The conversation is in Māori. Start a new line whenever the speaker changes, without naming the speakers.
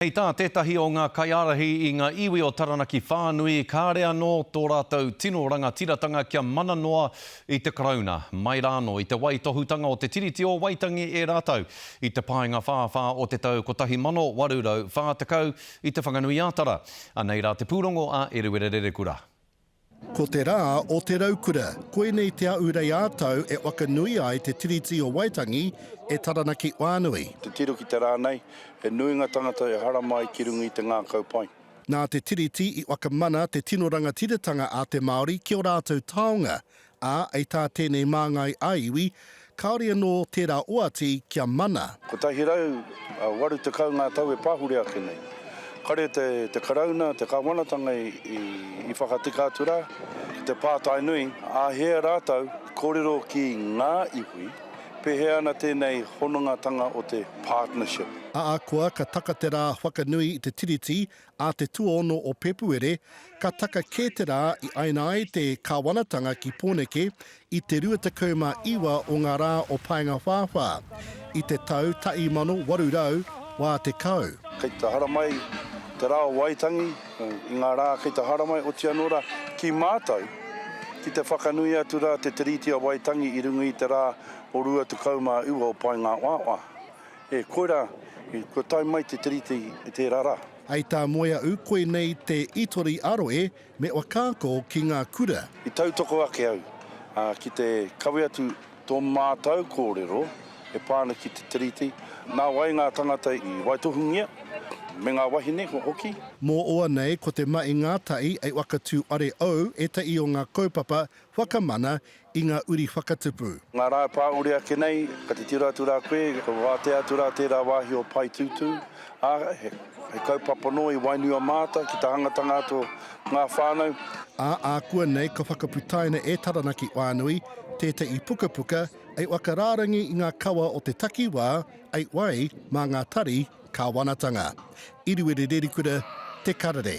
Hei tā tētahi o ngā kaiārahi i ngā iwi o Taranaki whānui, kāre anō tō rātou tino rangatiratanga kia mana noa i te Karauna, mai rānō i te waitohutanga o te Tiriti o Waitangi e rātou i te Paenga-whāwhā o te tau 1840 i Te Whanganui-ā-Tara. Anei rā te pūrongo a Eruera Rerekura. Ko te
rā o te raukura. Koinei Te Aurei ā-Tau e whakanui ai te Tiriti o Waitangi e Taranaki whānui. Titiro ki te rā
nei, he nui ngā tāngata e harama ai ki runga i te ngākau pai. Nā te Tiriti
i whakamana te tino rangatiratanga a te Māori ki ō rātou taonga, Ā, hei tā tēnei māngai ā-iwi, kāore anō tērā oati kia mana. Kotahi rau,
waru tekau ngā tau e pahure ake nei. Kare te Karauna, te Kāwanatanga i whakatika atu rā ki te pātai nui, āhea rātou kōrero ki ngā iwi, pēhea ana tēnei honongatanga o te partnership. Ahakoa ka
taka te rā whakanui i te Tiriti, Ā te tuaono o Pepuere, ka taka kē te rā i aina ai te kāwanatanga ki Pōneke i te 29 o ngā rā o Paengawhāwhā, i te tau 1880. Kei te haramai
te rā o Waitangi i ngā rā kei te haramai, oti anō rā, ki mātou, ki te whakanui atu rā te Tiriti o Waitangi i runga i te rā o 29 o Paengawhāwhā. E koirā, kua tae mai te Tiriti i tērā rā. Hei tā Moeaʻu,
koinei te itori aro e me whakaako ki ngā kura. I tautoko ake
au ki te kawe atu tō mātau kōrero e pā ana ki te Tiriti, nā wai ngā tangata i waitohungia, me ngā wahine hoki. Mō oa nei
ko te maʻi ngātahi e whakatū are au etahi o ngā kaupapa whakamana I ngā uri whakatupu. Ngā rā e pāure
ake nei, ka titiro atu rā koe, ka wātea atu rā tērā wāhi o Paetūtū, ā, he kaupapa nō i wainua māta ki te hangatanga atu o ngā whānau. Ā, ākuanei
ka whakaputaina e Taranaki Whānui tētahi pukapuka i whakarārangi i ngā kawa o te takiwā i wai mā ngā tari kāwanatanga. I Ruerererikura, Te Karere.